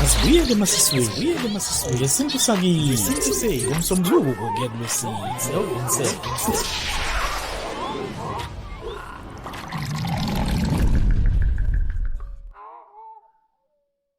asibuyele emasisweni ngesintu sakini ngomsombuluko kuya kulwesine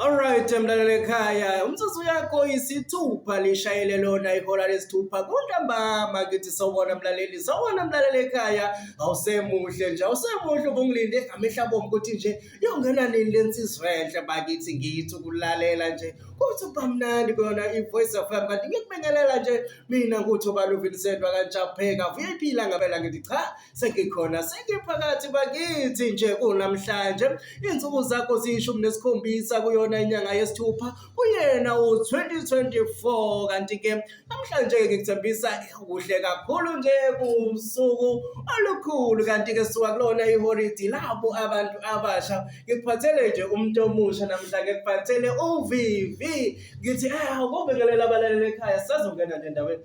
Alright, mlaleli ekhaya, umzuzu yakho isithupha lishayele lona ihora lesithupha kuntambama kithi sawona mlaleli, sawona mlaleli ekhaya, awusemuhle nje, awusemuhle ubungilinde ngamehla bomu ukuthi nje yongena nini lensizwa enhle bakithi ngithi ukulalela nje kuthi ubamnandi kuyona i-voice of m kanti ngikubingelela nje mina kuthi ubaluvilisendwa kanjapheka vuyayiphi ilanga phela ngithi cha sengikhona sengiphakathi bakithi nje kunamhlanje insuku zakho ziyishumi nesikhombisa kuyona inyanga yesithupha uyena u-2024 kanti-ke namhlanje-ke ngikuthembisa kuhle kakhulu nje kusuku olukhulu kanti-ke suka kulona iholidi labo abantu abasha ngikuphathele nje umuntu omusha namhla ngikuphathele uvivi ngithi um eh, kobingelela abalaleli ekhaya sazongena nje endaweni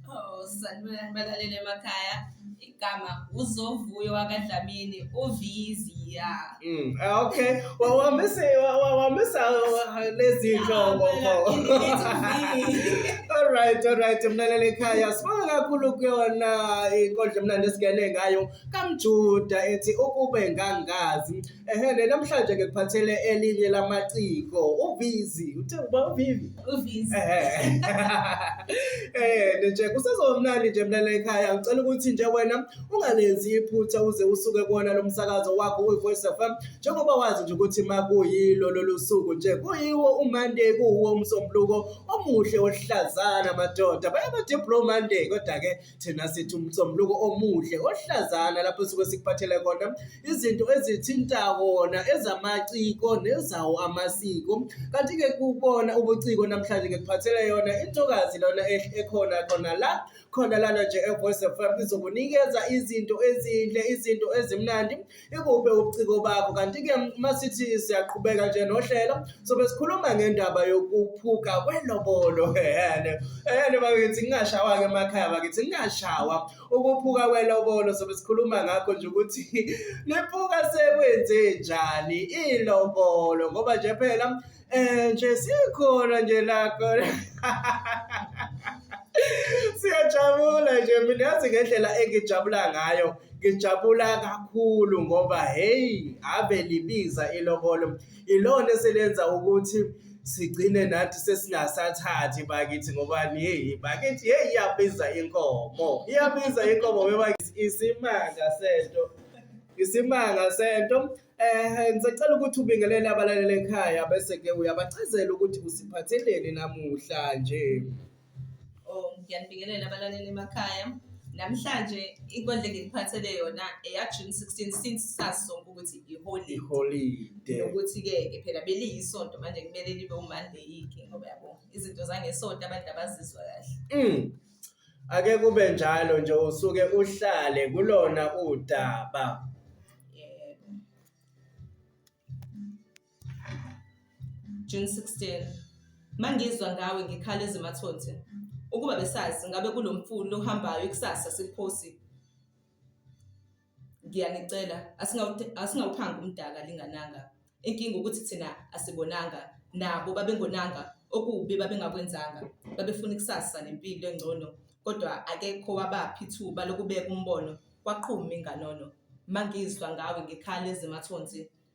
Oh, sanibona balaleli emakhaya. Igama uzovuyo wakadlamini uviziya. Mm. ah, Okay. Wa- Wamisa wa- wa- wamisa wa- lezi nhlobo. All right, all right. Mlaleli ekhaya sibonga kakhulu kuyona inkondlo emnandi esigene ngayo kaMjuda ethi ukube ngangazi Ehele namhlanje ke kuphathele elinye lamaciko uVizi uthe uba uVivi uVizi eh nje kusezomnandi nje mina la ekhaya ngicela ukuthi nje wena ungalenzi iphutha uze usuke kuona lomsakazo wakho uVoice FM njengoba wazi nje ukuthi makuyilo lolusuku nje kuyiwo uMonday kuwo umsombuluko omuhle ohlazana madoda bayabade bro Monday kodwa ke Thina sithi umsombuluko omuhle ohlazana lapho suke sikuphathele kona izinto ezithinta wona ezamaciko nezawo amasiko kanti-ke kubona ubuciko namhlanje ngikuphathele yona intokazi lona ekhona khona la khona lana nje evoice fm izokunikeza izinto ezinhle izinto ezimnandi Ikuphi ubuciko bakho? Kanti-ke uma sithi siyaqhubeka nje nohlelo sobe sikhuluma ngendaba yokuphuka kwelobolo ehene ehene bakithi ngingashawa-ke emakhaya bakithi ngingashawa ukuphuka kwelobolo sobe sikhuluma ngakho nje ukuthi liphuka sekwenze njani ilobolo ngoba nje phela Eh nje sikhona nje la khona. Siyajabula nje mina yazi ngendlela engijabula ngayo ngijabula kakhulu ngoba hey ave libiza ilobolo ilona eselenza ukuthi sigcine nathi sesingasathathi bakithi ngoba hey bakithi hey iyabiza inkomo iyabiza inkomo bebakithi isimanga sento isimanga sento Eh ngisacela ukuthi ubingelele abalaleli ekhaya bese ke uyabachazela ukuthi usiphatheleni namuhla nje. Oh ngiyanibingelela abalaleli emakhaya. Namhlanje inkondlo engiphathele yona eya June 16 since sasonke ukuthi iholiday. Iholide. Ukuthi ke phela beliyisonto manje kumele libe uMonday ke ngoba yabo izinto zangesonto abantu abazizwa kahle. Mm. Ake kube njalo nje usuke uhlale kulona udaba. Yebo. June 16. Mangizwa ngawe ngikhala ezimathonsi. Ukuba besazi ngabe kulomfulu lohambayo ikusasa sikuphosi. Ngiyanicela asingawu- asingawuphanga umdaka lingananga. Inkinga ukuthi thina asibonanga nabo babengonanga okubi babengakwenzanga. Babefuna ikusasa nempilo engcono kodwa akekho wabapha ithuba lokubeka umbono kwaqhuma inganono. Mangizwa ngawe ngikhala ezimathonsi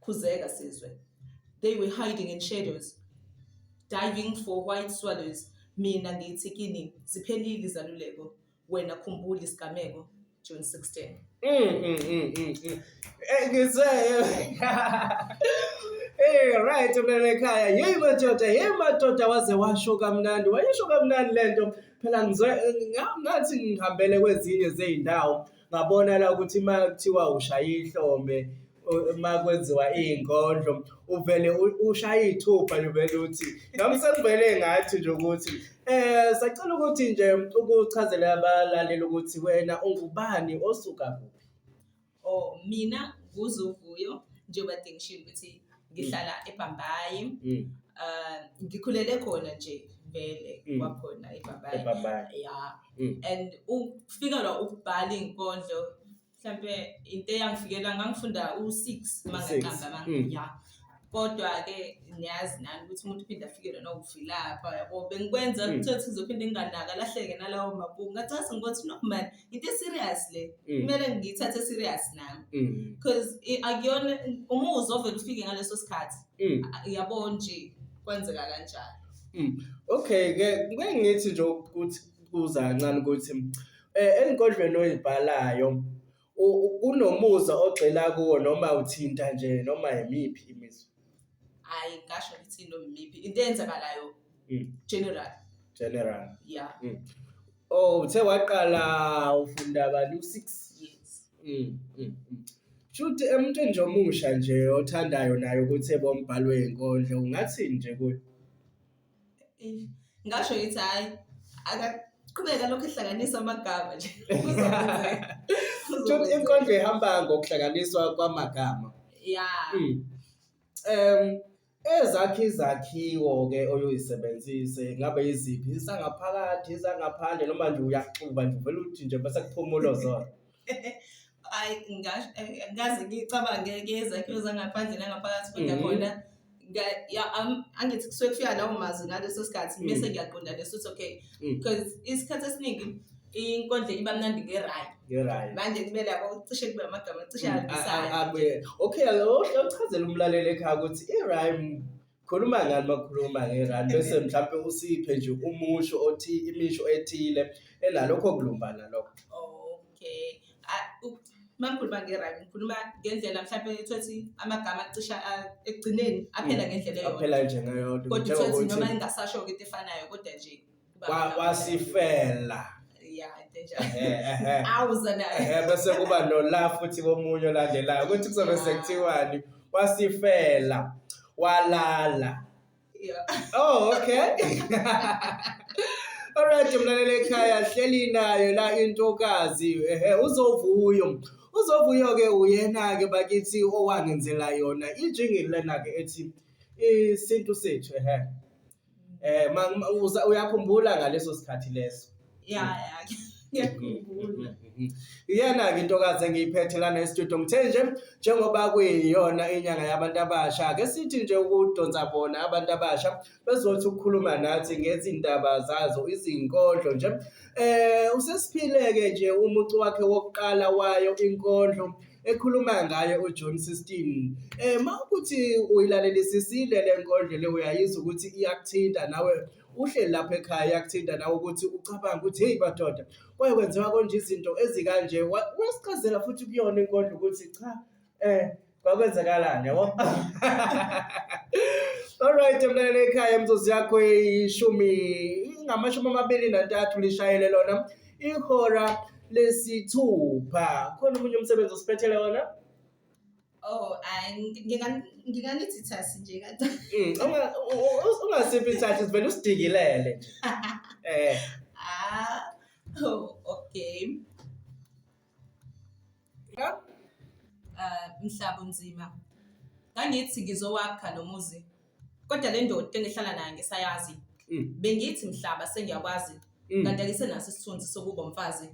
khuzeka sizwe they were hiding in shadows diving for white swallows mina ngithi kini ziphelile izaluleko wena khumbula isigameko June 16 Mm, mm, mm, mm, mm. Eh, ngizwe Eh right ulele ekhaya yeyi madoda yeyi madoda waze washo kamnandi wayisho kamnandi lento phela ngizwe nga- ngathi ngihambele kwezinye zey'ndawo ngabona la ukuthi uma kuthiwa ushaya ihlombe uma kwenziwa iy'nkondlo uvele ushaye iy'thupha uvele uthi nami sekuvele ngathi nje ukuthi um sacela ukuthi nje ukuchazela abalaleli ukuthi wena ungubani osuka kuphi o oh, mina nguzuvuyo njengoba dengishilo ukuthi ngihlala ebhambayi Mm. uh, ngikhulele khona nje vele Mm. kwakhona ebhambayi Ebhambayi. ya Mm. and ukufikelwa ukubhala iy'nkondlo mhlawumpe into eyangifikela ngangifunda u-six uma U-six. ngaqamba ama- Mm. ya kodwa-ke niyazi nani ukuthi umuntu uphinde afikelwe nokuvilapha yabo bengikwenza Mm. kuthiwa ukuthi ngizophinde nginganaka lahleke nalawo mabhuku ngathi ngathi ngokuthi no mani into serious le Mm. kumele ngiyithathe serious nami Mm. because akuyona umuzwa ovele ufike ngaleso sikhathi Mm. a- yabo nje kwenzeka kanjalo Okay ke ngeke ngithi nje ukuthi kuza kancane ukuthi eh enkodlweni oyibhalayo u- u- kunomuza ogxila kuwo noma uthinta nje noma yimiphi imizwa. hayi ngasho ngithi nomiphi into eyenzakalayo Mm. general general yeah oh uthe waqala ufunda abantu 6 yes Mm, mm, mm. Shuthi emntwini nje omusha nje othandayo naye ukuthi ebe umbhalo wenkondlo ungathini nje kuye? ngasho ngithi hhayi akaqhubeke alokhu ehlanganisa amagama nje Tshot inkondlo ihamba ngokuhlanganiswa kwamagama ya Mm. Em ezakhe izakhiwo ke oyuyisebenzise ngabe iziphi isangaphakathi isangaphandle noma nje uyaxuba nje uvela uthi nje bese kuphumula zona ayi ngazi ngicabange ke izakhiwo zangaphandle nangaphakathi kodwa mhm. khona angithi kusuke kufika lawo mazwi ngaleso sikhathi mm. bese ngiyaqonda leso ukuthi okay mm. because isikhathi esiningi inkondlo iba mnandi ngerayi ngerayi manje kumele yabo cishe kube amagama cishe mm, ahambisayo okay awuchazela umlaleli ekhaya ukuthi irayi Khuluma ngani makukhuluma ngerandi bese mhlawumpe usiphe nje umusho othi imisho ethile enalokho kulumbana lokho. Okay. A- u- Uma ngikhuluma ngerandi ngikhuluma ngendlela mhlawumpe ethothi amagama acisha a- ekugcineni aphela ngendlela eyodwa. Aphela nje ngeyodwa. Kodwa Njengoba uthothi noma uthi- ingasasho-ke into efanayo kodwa nje Kwa- kwasifela Yeah, I think I- Ehhe, ehhe. I was on that. Ehhe, bese kuba nola futhi komunye olandelayo ukuthi kuzobe sekuthiwani wasifela walala Yeah. Oh, okay. Alright, mlaleli ekhaya hleli nayo la intokazi. Ehe, uzovuyo. Uzovuyo ke uyena ke bakithi owangenzela yona ijingi lena ke ethi isintu sethu ehe. Eh ma- uza- uyakhumbula ngaleso sikhathi leso. ya ya ngiyakhumbula Iyena-ke intokazi engiyiphethe lana estudio ngithe nje njengoba kuyiyona inyanga yabantu abasha ake sithi nje ukudonsa bona abantu abasha bezothi ukukhuluma nathi ngezindaba zazo izinkondlo nje um usesiphile-ke nje umucu wakhe wokuqala wayo inkondlo ekhuluma ngaye uJohn 16 eh mawukuthi uyilalelisisile lenkondlo le uyayizwa ukuthi iyakuthinta nawe uhleli lapha ekhaya yakuthinta nawe ukuthi ucabanga ukuthi hey badoda kwaye kwenziwa konje izinto ezikanje wasichazela futhi kuyona inkondlo ukuthi cha eh kwakwenzakalani yabo Alright mlaleli ekhaya mzozi yakho ishumi ngamashumi amabili nantathu lishayele lona Ihora lesithupha. Khona omunye umsebenzi osiphethele wona? Oh, hayi ngi- nginga- nginganithi thasi nje kade. Mm, unga- u- u- Ungasiphi thathi sivele usidingilele. nje. Eh. Ah, oh, okay. Yep. Ah, mhlaba unzima. Ngangithi ngizowakha lo muzi. Kodwa le ndoda engihlala nayo ngisayazi. Mm. Bengithi mhlaba sengiyakwazi. Mm. Kanti ake senaso isithunzi sokuba umfazi.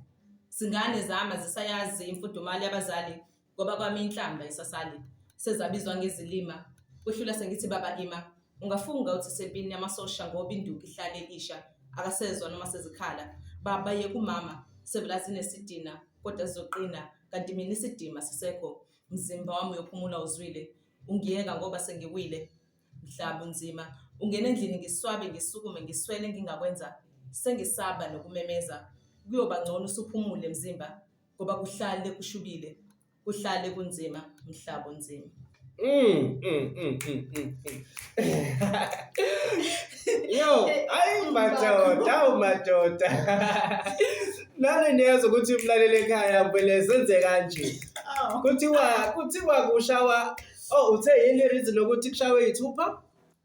Singane zama zisayazi imfudumali yabazali ngoba kwami inhlamba isasali. Sezabizwa ngezilima. Kuhlula sengithi baba ima. Ungafunga uthi isempini yamasosha ngoba induku ihlale isha akasezwa noma sezikhala. Baba yeka umama sebela zinesidina kodwa zizoqina kanti mina isidima sisekho mzimba wami uyophumula uzwile ungiyeka ngoba sengiwile mhla bunzima. Ungena endlini ngiswabe ngisukume ngiswele ngingakwenza sengisaba nokumemeza. Kuyoba ngcono usuphumule mzimba ngoba kuhlale kushubile. kuhlale kunzima mhlaba unzima Mm, mm, mm, mm, mm, mm. Yo, ayi madoda, awu madoda. Nani niyezwa ukuthi umlaleli ekhaya vele senze kanje. Aw. Kuthiwa kuthiwa kushawa oh uthe yini reason lokuthi kushawe ithupha?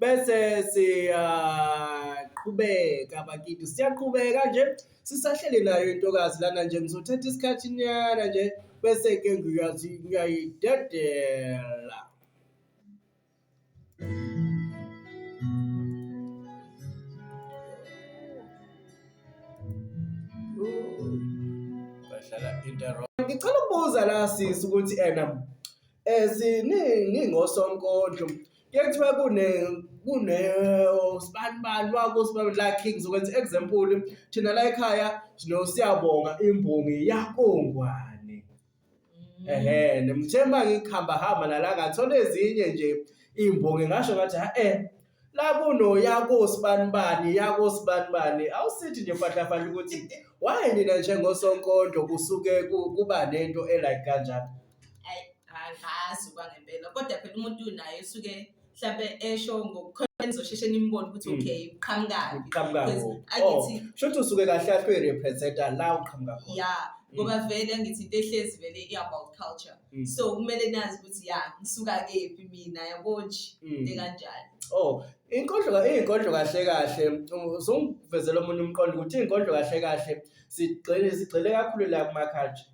bese siyaqhubeka bakithi siyaqhubeka nje sisahleli nayo intokazi lana nje ngizothatha isikhathi nyana nje bese ke ngiyazi ngiyayidedela ngicela ukubuza la sisi ukuthi ena eh siningi ngosonkondlo Kuye kuthiwa kune kune sibanibani wakusibanibani la king zokwenza example thina la ekhaya sinosiyabonga imbongi yakongwane ehe nemthemba ngikhamba hamba nala ngathola ezinye nje imbongi ngasho ngathi ha eh la kuno yakosibanibani yakosibanibani awusithi nje fahlafahla ukuthi why nina njengosonkondlo kusuke kuba nento elike kanjalo ayi angazi kwangempela kodwa phela umuntu naye usuke mhlawumbe esho ngokukhona nizosheshe nimbone ukuthi Mm. okay uqhamukaphi uqhamuka Because kuphi? Oh, angithi shuthi usuke kahle kahle uyirepresenta la uqhamuka khona ya ngoba vele angithi into ehlezi vele i-about culture Mm. so kumele nazi ukuthi ya ngisuka kephi mina yabo nje Mm. into kanjani Oh, inkondlo inkondlo kahle kahle um, uzongivezela omunye umqondo ukuthi inkondlo kahle kahle sigxile sigxile kakhulu la kuma culture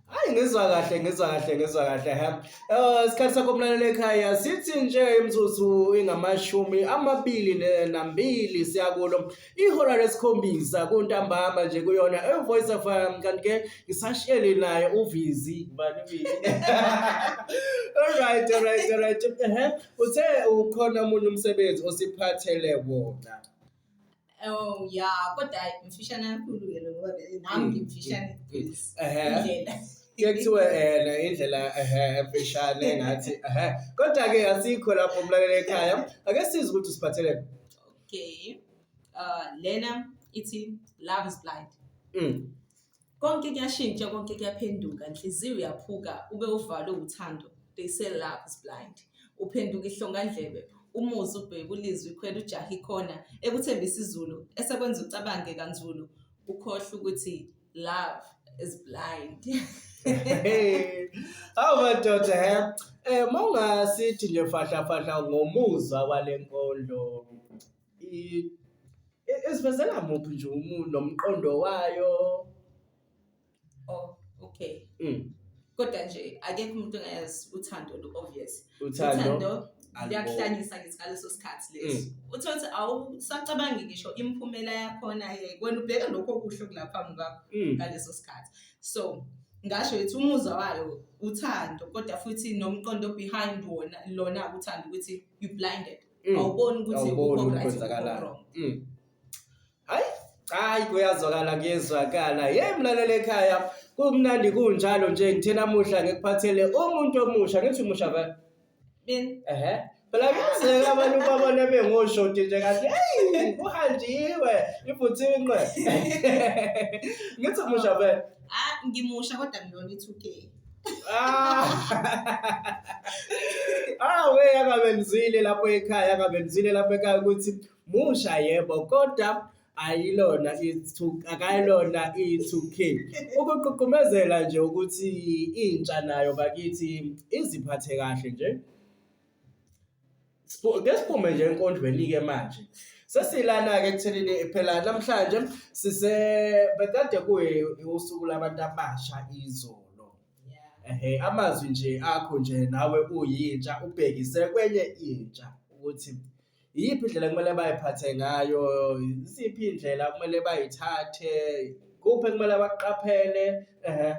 Hayi ngizwa kahle ngizwa kahle ngizwa kahle ha. Eh isikhathi sakho mlaleli ekhaya sithi nje imzuzu ingamashumi amabili ne- nambili siyakulo. Ihora lesikhombisa kuntambama nje kuyona e Voice of um, kanti ke ngisasheli naye uvizi bani vizi. Alright alright alright. Ehhe uthe ukhona umunye umsebenzi osiphathele wona. Oh ya kodwa mfishane kakhulu ke lokho nami ngimfishane indlela ke kuthiwe ena indlela ehe mfishane ngathi ehe kodwa ke asikho lapho umlalele ekhaya ake sizi ukuthi usiphathele okay uh lena ithi love is blind mm. konke kuyashintsha konke kuyaphenduka nhliziyo uyaphuka ube uvalwe uthando they say love is blind uphenduka ihlongandlebe umuzi ubheke ulizwe ikhwela ujaha ikhona ekuthembisa izulu esekwenza ucabange kanzulu ukhohle ukuthi love is blind awu madoda he um mawungasithi nje fahlafahla ngomuzwa wale nkondlo i- i- isivezela muphi nje umuntu nomqondo wayo oh okay Mm, kodwa nje akekho umuntu ongayazi uthando lu-obvious uthando uthando aliboni. liyakuhlanyisa ngithi ngaleso sikhathi leso uthi ukuthi awusacabangi ngisho imiphumela yakhona yeke wena ubheka lokho okuhle okulapha phambi kwakho Mm, ngaleso sikhathi so ngasho yithi umuzwa wayo uthando kodwa futhi nomqondo behind wona lona uthando ukuthi you blinded Mm. awuboni ukuthi Awuboni ukukho ukuthi right, kwenzakalayo. ukukho wrong. Mm. Hayi, hayi kuyazwakala kuyezwakala. Hey mlaleli ekhaya, kumnandi kunjalo nje ngithe namuhla ngikuphathele umuntu omusha ngithi umusha ba. Min- Ehhe. Phela kuyenzeka abantu babone bengoshoti nje kathi hey kuhanjiwe ibhuthinqwe. Ngithi umusha ba. ah ngimusha kodwa ngilona i-2k Ah. ah we akabenzile lapho ekhaya akabenzile lapho ekhaya ukuthi musha yebo kodwa ayilona ithu akayilona i2K ukuququmezela nje ukuthi intsha nayo bakithi iziphathe kahle nje Ke siphume nje enkondlweni-ke manje. Sesilana-ke ekuthenini phela namhlanje sise bekade kuwusuku labantu abasha izolo. Ehhe, amazwi nje akho nje nawe uyintsha ubhekise kwenye intsha ukuthi iyiphi indlela ekumele bayiphathe ngayo, yiziphi iy'ndlela okumele bayithathe, kuphi ekumele bakuqaphele, ehhe.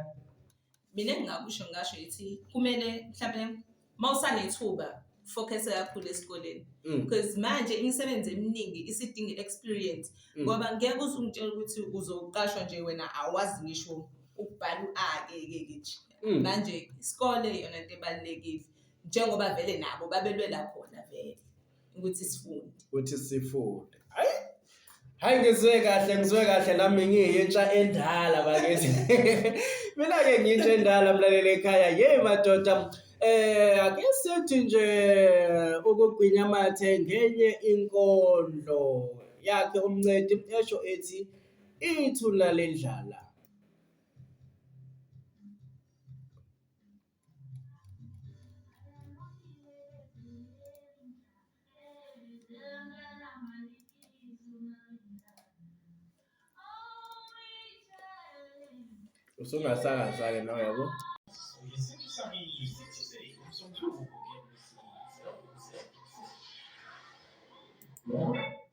mina engingakusho ngasho ithi kumele mhlawumbe uma usanethuba focus kakhulu esikoleni mm. because manje imisebenzi eminingi isidinga i-experience mm. ngoba ngeke uze ungitshela ukuthi uzoqashwa nje wena awazi ngisho ukubhala u-ake ke nje mm. manje isikole yona into ebalulekile njengoba vele nabo babelwela khona vele ukuthi sifunde ukuthi sifunde hayi hayi ngizwe kahle ngizwe kahle nami ngiyintsha endala bakithi mina ke ngiyintsha endala mlaleli ekhaya yey madoda eh ake sithi nje ukugwinya amathe ngenye inkondlo yakhe umncedi esho ethi ithuna lendlala usungasakaza-ke nawe yabo Yeah.